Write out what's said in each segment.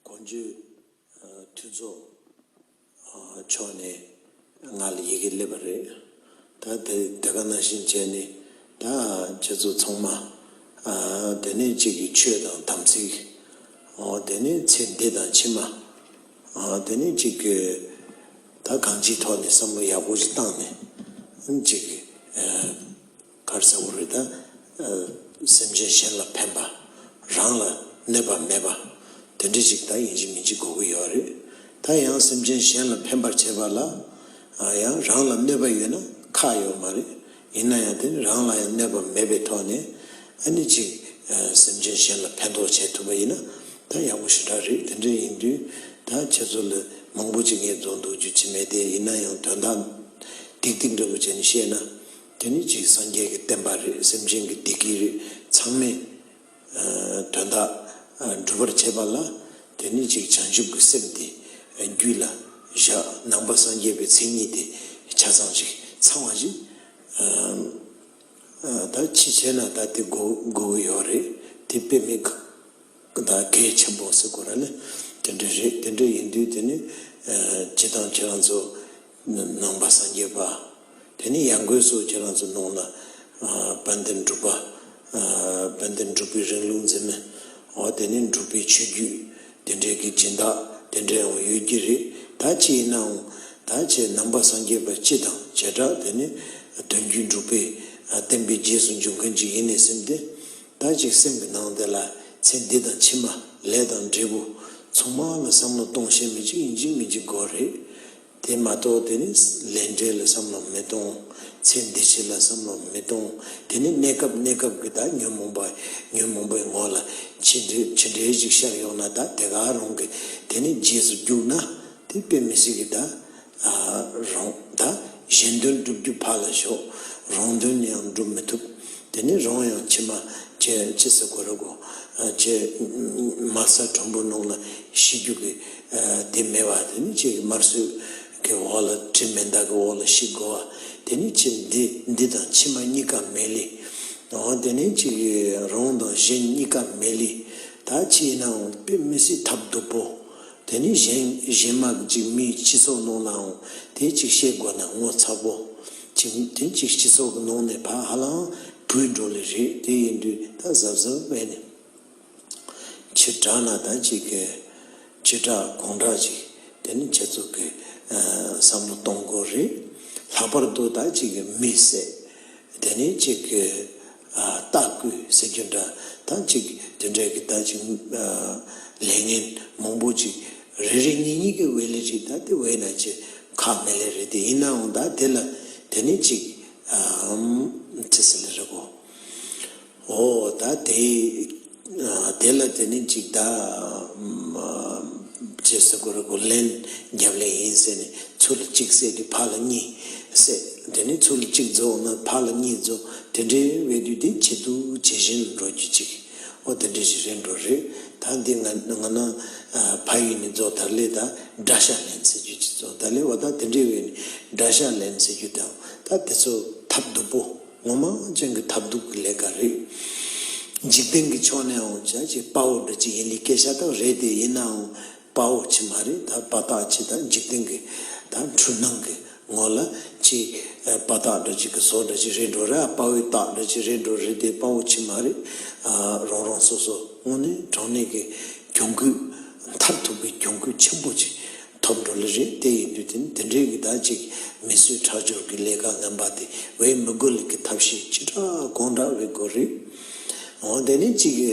དགོངས་བརྒྱུད། མཐུན་ཚོགས། མཆོག་ནས་ང་ལ་ཡི་གེ་སླེབས་པ་རེད། ད་དེ་དེ་ག་ན་བཞིན་བྱས་ནས་ད་ཁྱེད་ཚོ་ཚང་མ། དེ་ནས་གཅིག་གིས་ཆོས་དང་དམ་ཚིག། དེ་ནས་ཚེ་འདི་དང་ཕྱི་མ། དེ་ནས་གཅིག་གིས་ད་གང་ཅིའི་ཐོག་ནས་བསམ་བློ་ཡག་པོ་ཞིག་བཏང་ནས། གཅིག་གིས། གར་གསལ་བོར་རིག་དང། སེམས་ཅན་གཞན་ལ་ཕན་པ། རང་ལ་གནོད་པ་མེད་པ། དེ་འདྲའི་ཞིག་ད་ཡིན་གཅིག་མིན་གཅིག་གོ་གི་ཡོད་རེད། ད་ཡང་སེམས་ཅན་གཞན་ལ་ཕན་པར་བྱེད་པ་ལ་ཡང་རང་ལ་གནོད་པ་ཡོད་ན་ཁག་ཡོད་མ་རེད། ཡིན་ན་ཡང་དེ་ནི་རང་ལ་ཡང་གནོད་པ་མེད་པའི་ཐོག་ནས་ཨ་ནི་གཅིག་སེམས་ཅན་གཞན་ལ་ཕན་ཐོགས་བྱས་ཐུབ་པ་ཡིན་ན་ད་ཡག་པོ་ཞེ་དྲག་རེད་དེ་འདྲ་ཡིན་དུས་ད་ཁྱེད་ཚོ་ལ་མང་པོ་ཅིག་ངེས་རྫོགས་འདུག་རྒྱུ་ཅི་མེད་དེ་ཡིན་ན་ཡང་དོན་དག་ཏིག་ཏིག་འདྲ་པོ་བྱས་ནས་བཤད་ན། དེ་ནི་གཅིག་སངས་རྒྱས་ཀྱི་བསྟན་པ་རེད་སེམས་ཅན་གྱི་བདེ་སྐྱིད་རེད་ཚང་མས་དོན་དག་འགྲུབ་པར་བྱེད་པ་ལ་དེ་ནི་གཅིག་བྱང་ཆུབ་ཀྱི་སེམས་དེ་རྒྱུད་ལ་བཞག་ནང་པ་སངས་རྒྱས་པའི་མཚན་ཉིད་དེ་ཆ་ཚང་ཞིག་ཚང་བ་ཞིག་ད་ཅི་བྱས་ན་ད་དེ་དགོས་ཀྱི་ཡོད་རེད་དེ་དཔེ་མི་ད་གེ་ཆེན་པོ་ཟེར་དགོས་ར་ནི་དེ་འདྲ་རེད་དེ་འདྲ་ཡིན་དུས་དེ་ནི་བྱེད་སྟངས་ཁྱེད་རང་ཚོ་ནང་པ་སངས་རྒྱས་པ་དེ་ནི་ཡང་སྒོས་སུ་ཁྱེད་རང་ཚོ་ནང་ན་དཔལ་ལྡན་འགྲུབ་པ་དཔལ་ལྡན་འགྲུབ་པའི་རིང་ལུགས་འཛིན་མི་འོ་དེ་ནི་འགྲུབ་པའི་ཆོས་བརྒྱུད་དེ་འདྲའི་གི་སྦྱིན་བདག་དེ་འདྲའི་འོང་ཡོད་ཀྱི་རེད་ད་ཅི་ཡིན་ནའང་ད་ཁྱེད་ནང་པ་སངས་རྒྱས་པ་སྤྱི་དང་བྱེ་བྲག་དེ་ནི་དོན་བརྒྱུད་འགྲུབ་པའི་བསྟན་པའི་རྗེས་སུ་འཇུག་མཁན་ཅིག་ཡིན་ནི་སེམས་ཏེ་ཟླ་གཅིག་སེམས་ཀྱི་ནང་དེ་ལ་ཚེ་འདི་དང་ཕྱི་མ་ལས་དང་འབྲས་བུ་ཚང་མ་ལ་བསམ་བློ་གཏོང་ཤེས་མི་གཅིག་ཡིན་གཅིག་མིན་གཅིག་དགོས་རེད། དེ་མ་གཏོགས་དེ་ནི་ལས་འབྲས་ལ་བསམ་བློ་མི་གཏོང། ཚེ་འདི་ཕྱི་ལ་བསམ་བློ་མི་གཏོང་དེ་ནི་གནས་སྐབས་གནས་སྐབས་ཀྱི་ད་ཉོན་མོངས་པ་ཉོན་མོངས་པའི་ངོ་ལ་ཕྱི་འབྲེལ་ཕྱི་འབྲེལ་ཅིག་ཤར་ཡོང་ན་ད་དེ་ག་རུང་གི་དེ་ནི་རྗེས་སུ་རྒྱུགས་ན་དེ་དཔེ་མི་སྲིད་གི་ད། རང་དང་གཞན་དོན་བསྒྲུབ་རྒྱུ་ཕར་ལ་ཞོག་རང་དོན་ཡང་བསྒྲུབ་མི་ཐུབ། དེ་ནི་རང་ཡང་ཕྱི་མ་ཁྱེད་ཅི་ཟེར་དགོས་རེད་གོ། ཁྱེད་དམར་གསར་དྲོན་པོ་ནང་ལ་ཤི་རྒྱུ་གི་དེ་མེད་བ་དེ་ནི་ཁྱེད་ཀྱི་དམར་གསོད་ཀྱི་འོག་ལ་དྲི་མེད་མདའ་གི་འོག་ལ་ཤི་དགོས་བ་དེ་ནི་ཁྱེད་འདི་འདི་དང་ཕྱི་མ་གཉིས་ཀ་མེད་ལི། འོང་དེ་ནི་ཁྱེད་ཀྱི་རང་དང་གཞན་གཉིས་ཀ་མེད་ལི། ད་ཁྱེད་ཡིན་ནའང་དཔེ་མི་སྲིད་ཐབས་སྡུག་པོ། དེ་ནི་གཞན་གཞན་མ་གཅིག་མིའི་སྤྱི་ཚོགས་ནང་ལའང་དེ་གཅིག་བཤད་དགོས་ན་ངོ་ཚ་པོ། གཅིག་དེ་གཅིག་སྤྱི་ཚོགས་ནང་ནས་ཕ་ཧ་ལའང་བུད་འགྲོ་ལེ་རེད་དེ་ཡིན་དུས་ད་གཟབ་གཟབ་བས་ནས། ཁྱི་དྲག་ན་ད་ཅིག་གི། ཁྱི་དྲག་གོང་དྲག་ཅིག་དེ་ནི་ཁྱེད་ཚོ་གི། བསམ་བློ་གཏོང་དགོས་རེད། ལྷག་པར་དུ་ད་ཅིག་གི་མི་བསད་དེ་ནི་ཅིག་གི། ལྟ་སྐུལ་ཟེར་རྒྱུ་འདྲ་ཐང་གཅིག་དེ་འདྲས་ཀྱི་ད་ཅིག་ལས་ངན་མང་པོ་ཅིག་རེ་རེ་གཉིས་གཉིས་ཀྱི་འི་ལས་ཅིག་ད་དེ་འི་ན་ཅི་ཁག་མི་ལས་རེ་དེ་ཡིན་ནའང་ད་དེ་ལ་དེ་ནི་ཅིག་ཨམ་ཚི་སི་ལི་རེ་གོ་འོ་ད་དེ། དེ་ལ་དེ་ནི་འཇིག་ད་ཅེས་ཟེར་གོ་རེ་གོ་ལན་རྒྱབ་ལེ་ཡིན་ཟེར་ནས་ཚུར་ལ་གཅིག་བསད་དུས་ཕར་ལ་གཉིས་བསད་དེ་ནས་ཚུར་ལ་གཅིག་རྫོགས་ན་ཕར་ལ་གཉིས་རྫོགས་དེ་འདྲའི་དབའི་དུས་དེ་ཇེ་སྡུག་ཇེ་བཞིན་ལ་འགྲོ་རྒྱུ་ཅིག་ཨོ་དེ་འདྲའི་ཞིག་རེད་འགྲོ་རེད་ད་འདི་ང་ན་ཕ་ཡུལ་ནས་རྫོགས་དར་ལས་ད་དགྲ་ཤ་ལེན་ཟེར་རྒྱུ་ཅིག་རྫོགས་དར་ལས་བ་ད་དེ་འདྲའི་དབའི་ནས་དགྲ་ཤ་ལེན་ཟེར་རྒྱུ་དང་ད་དེ་ཚོ་ཐབས་སྡུག་པོ། ངོ་མ་ཨོ་རྒྱན་གྱི་ཐབས་སྡུག་གི་ལས་ཀ་རེད། འཇིག་རྟེན་གྱི་ཕྱོགས་ནས་ཨོ་རྒྱན་གྱི་དཔའ་བོ་འདྲ་གཅིག་ཡིན་ལི་སྐད་ཤ་སྟག་རེད་དེ་ཡིན་ནའང་དཔའ་བོ་གཅིག་མ་རེད་ད་དཔའ་རྟགས་གཅིག་ད་འཇིག་རྟེན་གྱི་ད་འཁྲུལ་སྣང་གི་ངོ་ལ་གཅིག་དཔའ་རྟགས་འདྲ་གཅིག་གི་བཟོ་འདྲ་གཅིག་རེད་འགྲོ་ར་དཔའ་བོའི་རྟགས་འདྲ་གཅིག་རེད་འགྲོ་རེད་དེ་དཔའ་བོ་གཅིག་མ་རེད། རང་རང་སོ་སོ་དངོས་གནས་དྲང་གནས་ཀྱི་གྱོང་གུད་མཐར་ཐུག་གི་གྱོང་གུད་ཆེན་པོ་གཅིག་ཐོབ་འགྲོ་ལེ་རེད་དེ་ཡིན་དུས་དེ་འདི་འདྲའི་གི་ད་ཅིག་མི་གསོད་ཁྲག་སྦྱོར་གི་ལས་ཀ་ངན་པ་དེ་འི་མི་དགོས་ལེ་གི་ཐབས་ཤེས་ཅི་དྲག་གང་དྲག་འི་དགོས་རེད་ཨོ་དེ་ནས་ཅིག་གི་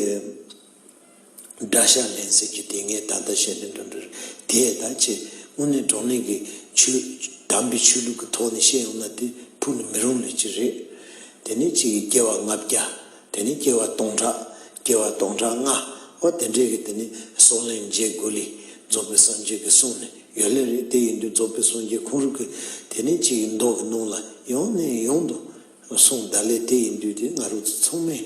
དགྲ་ཤ་ལེན་ཟེར་གི་དེ་ངས་ད་ལྟ་བཤད་དོན་དུ་འདྲི་དེ་ད་ཅི་དངོས་གནས་གྲོང་ནས་གི་ཆོས་དམ་པའི་ཆོས་ལུགས་གི་ཐོག་ནས་བཤད་ཡོང་ན་དེ་ཕུག་ནས་མི་རུང་ལེ་ཅི་རེད་དེ་ནས་ཅིག་གི་རྒྱལ་བ་ལྔ་བརྒྱ་དེ་ནི་སྐྱེ་བ་སྟོང་ཕྲག། སྐྱེ་བ་སྟོང་ཕྲག་ལྔ། འོ་དེ་འདྲས་ཀྱི་དེ་ནི་སོགས་ལན་བརྒྱད་དགུ་ལས། རྫོགས་པའི་སངས་རྒྱས་ཀྱི་གསུང་ནི་ཡོད་ལན་རེ་དེ་ཡིན་དུས་རྫོགས་པའི་སངས་རྒྱས་ཁོང་རུ་ཀི་དེ་ནི་གཅིག་གིས་མདོག་གིས་གནོང་ལ་ཡོང་ནས་ཡོང་དུ་སོང་བདག་ལས་དེ་ཡིན་དུས་དེ་ང་རུ་ཚོ་ཚང་མས་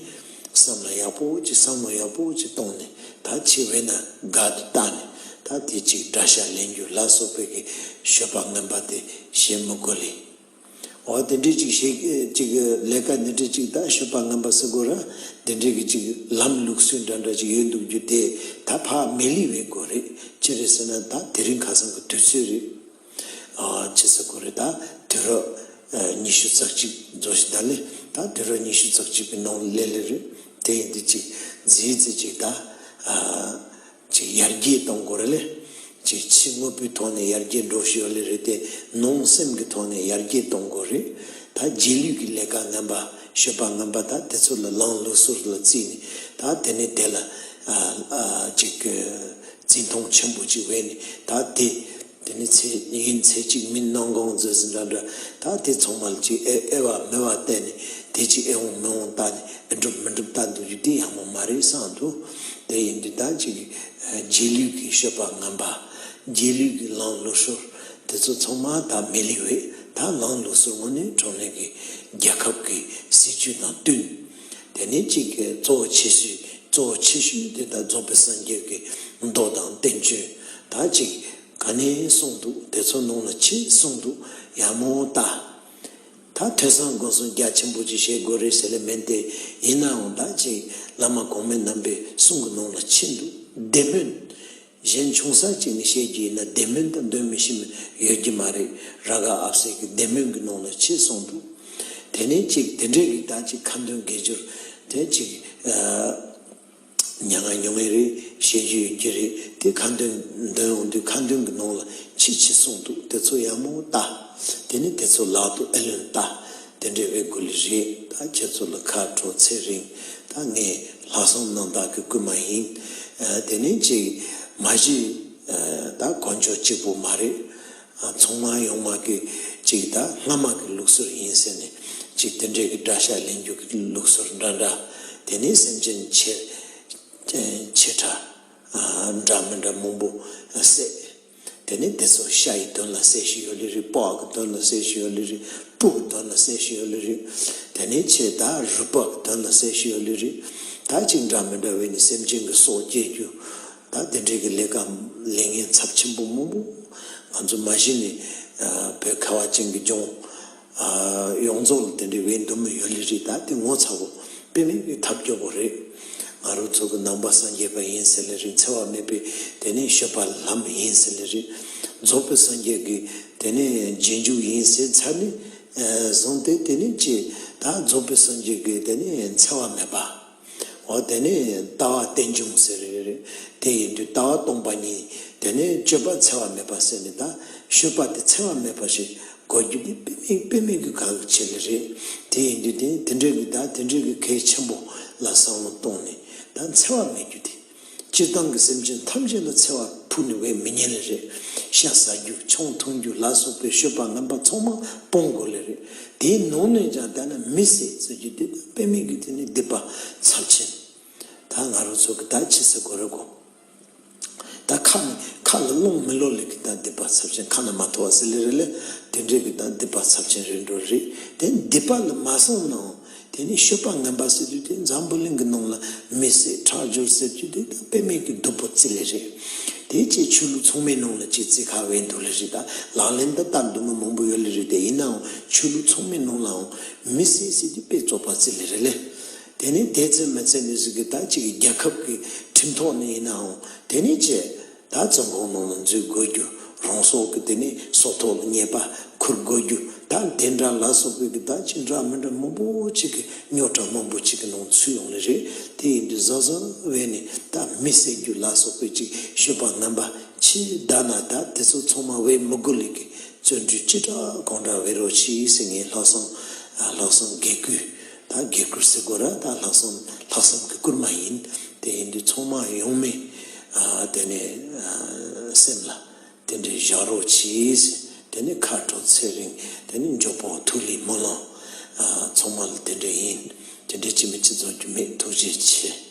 བསམ་ལ་ཡག་པོ་ཅིག་བསམ་མོ་ཡག་པོ་ཅིག་གཏོང་ནས་ད་ཕྱི་བས་ན་དགའ་དུ་བཏགས་ནས་ད་དེ་གཅིག་འདྲ་ཤ་ལེན་རྒྱུ་ལ་སོགས་པའི་གི་ཤོད་པ་ངན་པ་དེ་བྱེད་མི་དགོས་ལེ། འོ་དེ་འདྲའི་ཅིག་ཞིག་ཅིག་ལས་ཀ་འདི་འདྲའི་ཅིག་ད་ཤོད་པ་ངན་པ་སེ་གོ་ར་འདི་འདྲའི་གི་ཅིག་ལམ་ལུགས་སུས་འདྲ་འདྲ་ཅིག་ཡོད་འདུག་རྒྱུ་དེ་ད་ཕ་མེ་ལི་བའི་གོ་རེད་ཅི་རེད་ཟེར་ན་ད་དེ་རིང་ཁ་སང་གི་དུས་ཚོད་རེད་ཅི་ཟེ་གོ་རེད་ད་དུས་རབས་ཉི་ཤུ་རྩ་གཅིག་རྫོགས་ཤིག་ད་ལེ་ད་དུས་རབས་ཉི་ཤུ་རྩ་གཅིག་གི་ནང་ལེ་ལེ་རེད་དེ་ཡིན་དུས་ཅིག་རྫི་ཡི་རྫི་ཅིག་ད། ཅེས་ཡར་རྒྱས་གཏོང་དགོས་ར་ལེ། ཅེས་ཕྱི་དངོས་པོའི་ཐོག་ནས་ཡར་རྒྱས་འགྲོ་བཞིན་ཡོད་ལེ་རེད་དེ། ནང་སེམས་ཀྱི་ཐོག་ནས་ཡར་རྒྱས་གཏོང་དགོས་རེད་ད། རྗེས་ལུས་ཀྱི་ལས་ཀ་ངན་པ། ཤོད་པ་ངན་པ་དག་དེ་ཚོ་ལ་ལངས་ལུགས་ཟུར་ལ་བརྩིས་ནས་ད་དེ་ནས་དེ་ལ། ཅིག། བརྩི་མཐོང་ཆེན་པོ་ཅིག་བས་ནས་ད་དེ། དེ་ནི་ཚེ་གཉིས་ཡིན་ཚེ་གཅིག་མིན་སྣང་དགོངས་མཛོད་ཟིན་འདྲ་འདྲ་ད་དེ་ཚོགས་མ་ལ་ཅིག་ཨེ་ཨེ་བ་མེ་བ་བལྟས་ནས་དེ་ཅིག་ཨེ་འོང་མི་འོང་བལྟ་ནས་ཨེ་འགྲུབ་མི་འགྲུབ་བལྟ་འདུག་རྒྱུ་དེ་ཡག་མོ་མ་རེད་སང་དུ་དེ་ཡིན་དུས་ད་ཅིག་རྗེས་ལུས་ཀྱི་བཤོད་པ་ངན་པ་རྗེས་ལུས་ཀྱི་ལང་ལུགས་ཤོར་དེ་ཚོ་ཚང་མ་ད་མི་ལེགས་བས་ད་ལང་ལུགས་སུ་དངོས་གནས་གྲོང་ནས་ཀྱི་རྒྱལ་ཁབ་ཀྱི་སྲིད་བྱུས་དང་བསྟུན། དེ་ནས་གཅིག་གིས་གཙོ་བོ་ཆེ་ཤོས་གཙོ་བོ་ཆེ་ཤོས་དེ་དག་རྫོགས་པའི་སངས་རྒྱས་ཀྱི་མདོ་དང་བསྟན་བཅོས་དག་ཅིག་ག་ནས་གསུངས་འདུག་དེ་ཚོ་ནང་ལ་ཅི་གསུངས་འདུག་ཡང་མོ་ལྟ། ད་ཐོས་བསམ་དགོངས་གསུང་རྒྱ་ཆེན་པོ་ཅིག་བཞེས་དགོས་རེད་ཟེར་ལེ་མིན་ཏེ་ཡིན་ནའང་དག་ཅིག་བླ་མ་གོང་མའི་རྣམ་པའི་གསུང་གི་ནང་ལ་ཕྱིན་འདུག་བདེན་མོད། གཞན་ཆུང་ས་གཅིག་ནས་བཤད་རྒྱུ་ཡིན་ན་བདེན་སྨོན་དང་འདོན་མི་ཤེས་མིན་ཡོད་རྒྱུ་མ་རེད་ར་ག་ཨབ་སེ་གི་བདེན་སྨོན་གི་ནང་ལ་ཕྱིན་སོང་འདུག་དེ་ནས་གཅིག་དེ་འདྲའི་རིགས་དག་ཅིག་ཁ་འདོན་དགེ་སྦྱོར་དེ་ཅིག་མྱ་ངན་མྱོང་ངེས་རེད་བཤད་རྒྱུ་ཡོད་རྒྱུ་རེད་དེ་ཁ་འདོན་འདོན་འོང་དུས་ཁ་འདོན་གི་ནང་ལ་ཕྱི་ཕྱིན་སོང་འདུག་དེ་ཚོ་ཡག་མོ་ལྟ་དེ་ནས་དེ་ཚོ་ལག་ཏུ་ཨེ་ལོན་ལྟ། དེ་འདྲའི་དབྱེ་བསྒུག་ལས་རིགས་དང་ཁྱེད་ཚོ་ལ་ཁ་དྲོ་ཚེ་རིང་དང་ངས་ལྷག་བསམ་གནང་བདག་གི་རྐུན་མ་ཡིན། དེ་ནས་གཅིག་མ་གཞི་ད་གོ་མཆོག་གཅིག་པོ་མ་རེད། ཚོང་མ་ཡོང་མ་གི་གཅིག་ད་སྔ་མ་གི་ལུགས་སྲོལ་ཡིན་ཟེར་ནས་གཅིག་དེ་འདྲའི་གི་དགྲ་ཤ་ལེན་རྒྱུ་གི་ལུགས་སྲོལ་འདྲ་འདྲ་དེ་ནས་སེམས་ཅན་ཆེ་ཕྲ་འདྲ་མི་འདྲ་མང་པོ་བསད། དེ་ནས་དེ་སོགས་ཤ་ཡི་གདོན་ལ་སའི་ཤི་ཡོ་ལི་རི་པགས་ཀྱི་གདོན་ལ་སའི་ཤི་ཡོ་ལི་རི་སྤུ་གི་གདོན་ལ་སའི་ཤི་ཡོ་ལི་རི། དེ་ནས་ཆེས་དག་རུས་པགས་ཀྱི་གདོན་ལ་སའི་ཤི་ཡོ་ལི་རི། ད་གཅིག་འདྲ་མི་འདྲ་བས་ནི་སེམས་ཅན་གྱི་སྲོག་སྐྱེལ་རྒྱུ། ད་དེ་འདྲས་ཀྱི་ལས་ཀ་ལས་ངན་ཚབས་ཆེན་པོ་མང་པོ་ང་ཚོ་མ་གཞི་ནས་བོད་ཁ་བ་ཅན་གྱི་ལྗོངས། ཡོངས་རྫོགས་ལ་དེ་འདྲའི་འི་འདུན་མ་ཡོད་ལི་རི་དྭགས་དེ་ངོ་ཚ་བོ་དཔེ་མེད་པའི་ཐབས་སྐྱོ་བོ་རེད། ང་རུ་ཚོ་གི་ནང་པ་སངས་རྒྱས་པ་ཡིན་ཟེར་ལི་རི་འཚེ་བ་མེད་པའི་དེ་ནས་ཤོད་པ་ལྷམ་ཡིན་ཟེར་ལི་རི་རྫོགས་པའི་སངས་རྒྱས་ཀི་དེ་ནས་རྗེས་འཇུག་ཡིན་ཟེར་ཚ་ནས་བཟུང་སྟེ་དེ་ནས་ཅི་ད་རྫོགས་པའི་སངས་རྒྱས་ཀི་དེ་ནས་འཚེ་བ་མེད་པ། འོ་དེ་ནས་ལྟ་བ་རྟེན་འབྱུང་ཟེར། དེ་ཡིན་དུས་ལྟ་བ་སྟོང་པ་ཉིད་དེ་ནས་སྤྱོད་པ་འཚེ་བ་མེད་པ་ཟེར་ནས་ད་གཞོལ་བ་དེ་འཚེ་བ་མེད་པ་ཞིག་གོ་རྒྱུ་དེ་དཔེ་མིག་གི་གང་གི་ཆེད་ལས་རེད། དེ་ཡིན་དུས་དེ་འདྲའི་གི་ད་དེ་འདྲའི་གི་གལ་ཆེན་པོ་ལ་བསམ་བློ་གཏོང་ནས་ད་འཚེ་བ་མེད་རྒྱུ་དེ། སྤྱིར་བཏང་གི་སེམས་ཅན་ཐམས་ཅད་ལ་འཚེ་བ་ཕུག་ནས་བས་མི་ཉན་ལེ་རེད། ཤ་ཟ་རྒྱུ་མཆོང་འཐུང་རྒྱུ་ལ་སོགས་པའི་ཤོད་པ་ངན་པ་ཚང་མ་སྤོང་དགོས་ལེ་རེད། དེའི་ནང་ནས་ཀྱང་བལྟས་ན་མི་སེར་ཚོས་ཀྱི་བདེ་དོན་དཔེ་མེད་ཀྱི་དུས་ནས་སྡིག་པ་ཚབས་ཆེན། ད་ང་རོ་ཚོ་གི་ད་ཁྱི་ཟེར་དགོས་རེད་གོ། ད་ཁ་ནས་ཁ་ལ་རླུང་མི་ལོག་ལེ་གི་ད་སྡིག་པ་ཚབས་ཆེན་ཁ་ན་མ་ཐོ་བ་ཟེར་ལེ་རེད་ལེ། དེ་འདྲས་ཀྱི་ད་སྡིག་པ་ཚབས་ཆེན་རེད་འགྲོ་རེད་དེ་སྡིག་པ་ལ་མ་སོང་ནའང། དེ་ནས་ཤོད་པ་ངན་པ་ཟེར་དུས་དེ་འཛམ་བུ་གླིང་གི་ནང་ལ་མི་བསད་ཁྲག་སྦྱོར་ཟེར་དུས་དེ་དང་དཔེ་མེད་ཀྱི་བདུད་པོ་རྩི་ལེ་རེད། དེ་བཅས་ཆོས་ལུགས་ཚང་མའི་ནང་ལ་སྤྱི་རྩིས་ཁ་བས་འདུག་ལེ་རེད་ད་ལག་ལེན་འདི་ལྟར་འདུག་མི་མང་པོ་ཡོད་ལེ་རེད་དེ་ཡིན་ནའང་ཆོས་ལུགས་ཚང་མའི་ནང་ལའང་མི་བསད་ཟེར་དུས་དཔེ་བཙོག་པ་རྩི་ལེ་རེད་ལེ། དེ་ནས་དེ་རྩི་མི་རྩི་མི་ཟེར་གི་ད་གཅིག་གི་རྒྱལ་ཁབ་ཀྱི་ཁྲིམས་ཐོག་ནས་ཡིན་ནའང་དེ་ནས་བཅས། ད་ཚོད་འགོག་ནོར་ལ་འཛུལ་དགོས་རྒྱུ་རང་སྲོག་གི་དེ་ནས་སྲོག་ཐོག་ལ་ཉེས་པ་འཁུར་དགོས་རྒྱུ་ད་དེ་འདྲ་ལ་སོགས་པའི་གི་ད་ཅི་འདྲ་མི་འདྲ་མང་པོ་ཅིག་གི་རྙོག་དྲ་མང་པོ་ཅིག་གི་ནང་ཚུད་ཡོང་ནི་རེད་དེ་ཡིན་དུས་གཟའ་གཟའ་བས་ནི་ད་མི་བསད་རྒྱུ་ལ་སོགས་པའི་ཅིག་ཤོད་པ་ངན་པ་ཕྱི་ཟླ་ན་ད་དེ་ཚོ་ཚང་མ་བས་མི་དགོས་ལས་གི་བརྩོན་འགྲུས་ཅི་དྲག་གང་དྲག་བས་རོགས་ཕྱི་སེ་ངའི་ལྷག་བསམ་ལྷག་བསམ་དགེ་བསྐུལ། ད་གེ་ཁུར་སེ་གོ་ར་ད་ལྷག་བསམ་ལྷག་བསམ་གི་བསྐུར་མ་ཡིན། དེ་ཡིན་དུས་ཚོང་དམག་ཡོང་མི་དེ་ནས་སེམས་ལ་དེ་འདྲའི་བཞག་རོགས་གྱིས་དེ་ནས་ཁ་དྲོ་ཚེ་རིང་དེ་ནས་མགྱོགས་པོ་ཐུགས་ལི་མོ་ལོ། ཚོང་དམག་ལ་དེ་འདྲས་ཡིན་དེ་འདྲས་ཅི་མི་ཅི་རྫོགས་རྒྱུ་མེད་ཐུགས་རྗེ་ཆེ།